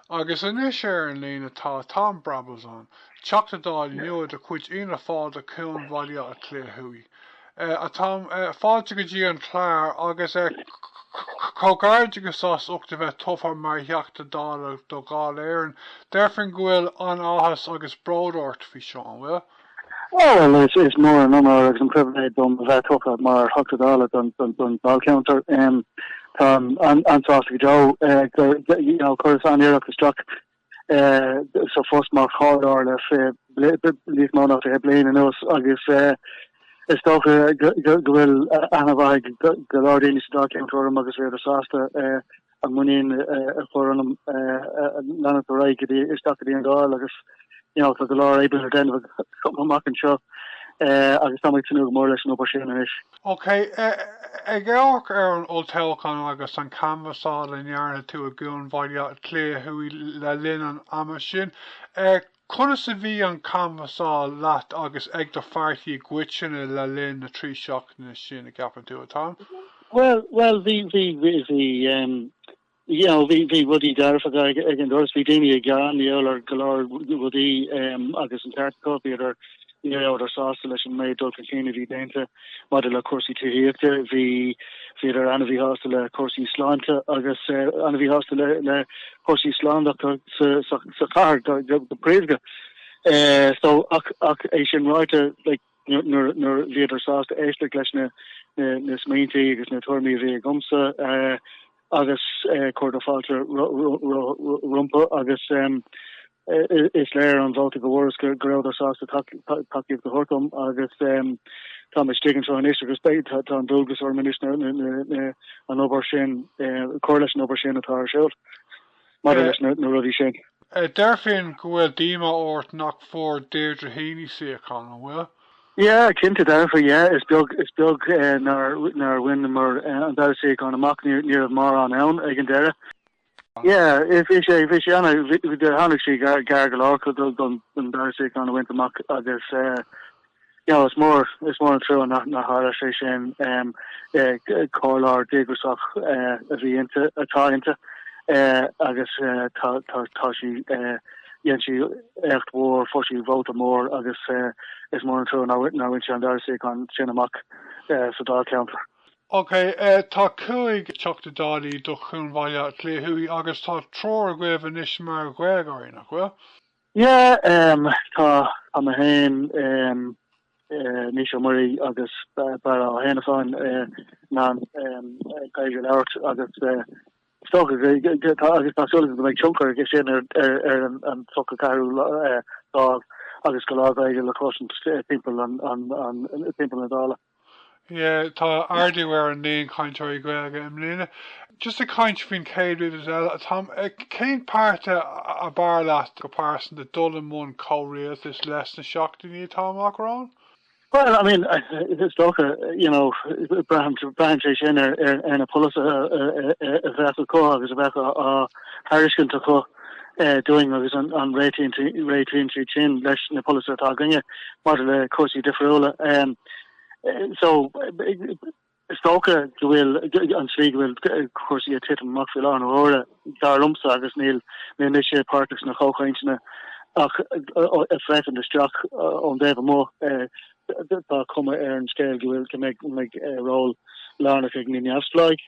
Agus anois ar an líne tá Tom Brabazon, Teachta Dála nua de chuid Fhianna Fáil do Chuan Bhaile Átha Cliath Thuaidh. A Tom, fáilte go dtí an clár agus comhghairdeachas as ucht a bheith tofa mar Theachta Dála do Dháil Éireann. Deirfinn go bhfuil an-áthas agus bród ort faoi seo, an bhfuil? Ó, bhuel, is mór an onóir agus an pribhléid dom a bheith tofa mar Theachta Dála don Dáilcheantar. Táim an-sásta go deo gur, you know, chuireas an-iarracht isteach sa phost mar chomhairleoir le níos mó ná fiche bliain anuas agus is dócha go bhfuil aithne mhaith ag go leor daoine sa Dáilcheantar orm agus bhíodar sásta a muinín a chur ionam leanúint ar aghaidh isteach go dtí an Dáil agus tá go leor oibre le déanamh chomh maith anseo agus tá mé ag tnúth go mór leis an obair sin anois. Ok, ag amharc ar an olltoghchán agus an chanbhasáil a ndearna tú i gCuan Bhaile Átha Cliath Thuaidh le linn an ama sin, Conas a bhí an chanbhasáil agat agus ag do phairtí i gcoitinne le linn na trí seachtaine sin, a gceapann tú, a Tom? Bhuel, bhuel, bhí, bhí, bhí, bhí em, you know, bhí, bhí rudaí dearfacha ag, ag an doras, bhí daoine ag gearán, you know, ar go leor rudaí em, agus an teartcópí ar Ní raibheadar sásta leis an méid dul chun cinn a bhí déanta maidir le cúrsaí tithíochta. Bhí, bhíodar ana-mhí shásta le cúrsaí sláinte agus ana-mhí shásta le, le cúrsaí slándála sa, sa, sa chathair go, go, go príomha. Eh, so, ach, ach é sin ráite, like, nuair, nuair, nuair bhíodar sásta éisteacht leis na, na, na smaointí agus na tuairimí a bhí agamsa, eh, agus cur fáilte rompu agus is léir ón vóta go bhfuaireas go rabhadar sásta tacaíocht a thabhairt dom agus tá mé istigh anseo anois agus beidh tá an dualgas orm anois na an obair sin cur leis an obair sin atá ar siúl. maidir leis na rudaí sin. Déarfainn go bhfuil díomá ort nach bhfuair Deirdre Heney suíochán, an bhfuil? Yeah, cinnte Darragh, yeah. Is beag, is beag nár, nár bhaineamar an dara suíochán amach, ní, ní raibh mórán ann ag an deireadh. Yeah, bhí sé, bhí sé ana, bhí, tháinig sí gar, gar go leor don, don dara suíochán a bhaint amach agus, eh, Now is mór is mór an trua nár nár tharla sé sin comhairleoir díograsach a bhí inti atá inti agus tá tá tá sí dhein sí éacht mhór fuair sí vóta mór agus is mór an trua nár bhain nár bhain sí an dara suíochán sin amach sa Dáilcheantar. Ok tá cúig Theachta Dála do Chuan Bhaile Átha Cliath Thuaidh agus tá triúr agaibh anois mar Ghaeilgeoirí, nach bhfuil? Yeah em tá tá mé féin em eh Naoise Ó Muirí agus Barra Ó hÉanasáin eh na em Gaeilge a labhairt agus eh is dócha go go tá agus tá súil agam go mbeidh tionchar aige sin ar ar ar an an focal ceathrú lá eh lámh agus go leor Gaeilge le cloisint timpeall an an an timpeall na Dála. Tá ardú ar an líon cainteoirí Gaeilge i mbliana. Just ag caint faoin chéad rud eile atá. Cén páirtí ab fhearr leat go pearsanta dul i mbun comhrialtais leis sna seachtainí atá amach romhainn? Bhuel, I mean, is dócha, you know, braitheann sé sin ar na polasaithe a bheadh acu agus a bheadh á thairiscint acu. dúinn agus an réitíonn siad sin leis na polasaithe atá againne maidir le cúrsaí difriúla. So is dócha go bhfuil an slí go bhfuil cúrsaí ag titim amach faoi láthair na huaire dar liomsa agus níl níl mise páirteach sna comhchainteanna ach ag féachaint isteach ón dtaobh amuigh tá cuma ar an scéal go bhfuil go mbeidh ról lárnach ag na neamhspleáigh.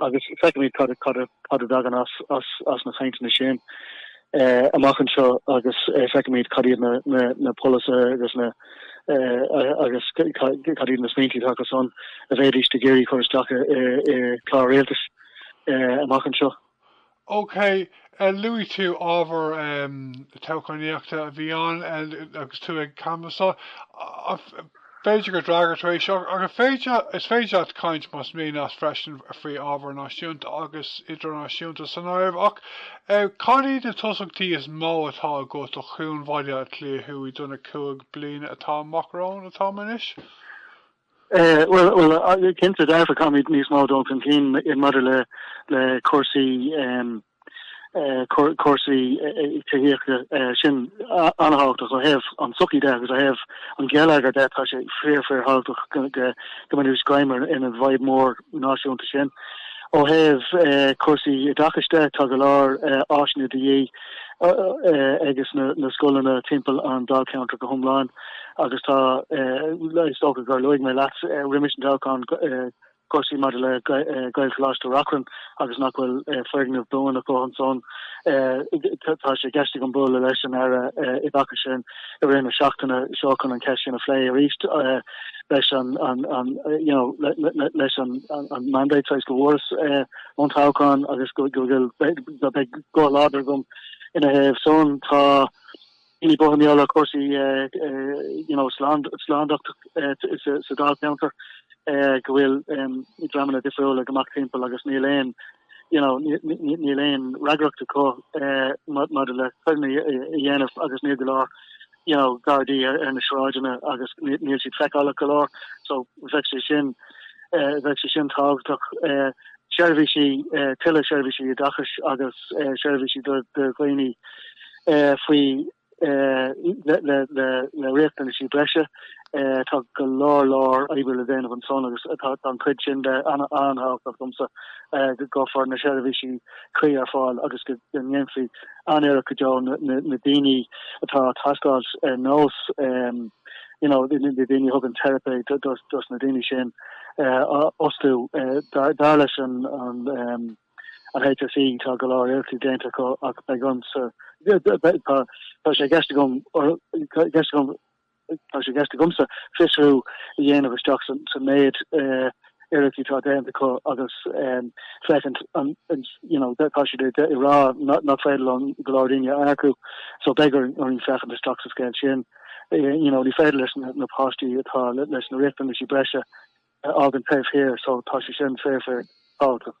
Agus feicfimid cad a thagann as na cainteanna sin amach anseo agus feicfimid cad iad na polasaithe agus cad iad na smaointí atá acusan a bheidís ag iarraidh cur isteach ar chlár rialtais amach anseo. OK, luaigh tú ábhar toghchánaíochta a bhí ann agus tú ag canbhasáil. B'fhéidir gur fhreagair tú é seo, ach is féidir leat caint, más mian leat freisin, faoi ábhar náisiúnta agus idirnáisiúnta san áireamh. Ach cad iad na tosaíochtaí is mó atá agat do Chuan Bhaile Átha Cliath Thuaidh do na cúig bliana atá amach romhainn, atá anois? Bhuel, cinnte, go bhfeicfimid níos mó dul chun cinn maidir le cúrsaí tithíochta. Sin an-tábhachtach ó thaobh an tsochaí de agus ó thaobh an gheilleagair de. Tá sé fíor, fíor thábhachtach go bhfaighimis greim ar an bhfadhb mhór náisiúnta sin. Ó thaobh cúrsaí oideachais de, tá go leor áiseanna de dhíth. ag na scoileanna timpeall an Dáilcheantair go hiomlán agus tá is dócha gur luaigh mé leat roimis an toghchán cúrsaí maidir le Gaelcholáiste Reachrann agus nach bhfuil foirgneamh buan acu ansan. Tá sé i gceist agam bualadh leis an Aire oideachais i rith na seachtaine seo chun an cheist sin a phlé arís leis an leis an mandate saghas go bhfuaras ón toghchán agus go mbeidh guth láidir agam ina thaobh san. Tá daoine buartha mar gheall ar chúrsaí you know slándachta sa Dáilcheantar go bhfuil dreamanna difriúla ag imeacht timpeall agus níl aon you know níl aon fhreagracht acu maidir le coireanna a dhéanamh agus níl go leor you know, Gardaí ar na sráideanna agus níl siad feiceálach go leor so bheadh sé sin bheadh sé sin tábhachtach. Seirbhísí, tuilleadh seirbhísí oideachais agus seirbhísí do dhaoine faoi le riachtanaisí breise Tá go leor leor oibre le déanamh ansan agus tá an chuid sin de an-tábhachtach domsa go gcuirfear na seirbhísí cuí ar fáil agus go ndéanfaí an-iarracht go deo na daoine atá ag teastáil ar nós you know na daoine a thugann teiripe dos na daoine sin a fhostú. Dar leis an HSE tá go leor iarrachtaí déanta acu ach beidh ormsa tá sé i gceist agam i gceist agam Tá sé i gceist agamsa fiosrú a dhéanamh isteach san méid iarracht atá déanta acu agus féachaint an you know tá siad ag rá nach féidir leo go leor daoine a earcú so beidh orainn féachaint isteach sa scéal sin. You know ní féidir linn na páistí atá leis na riachtanaisí breise a fhágaint taobh thiar so tá sé sin fíor fíorthábhachtach.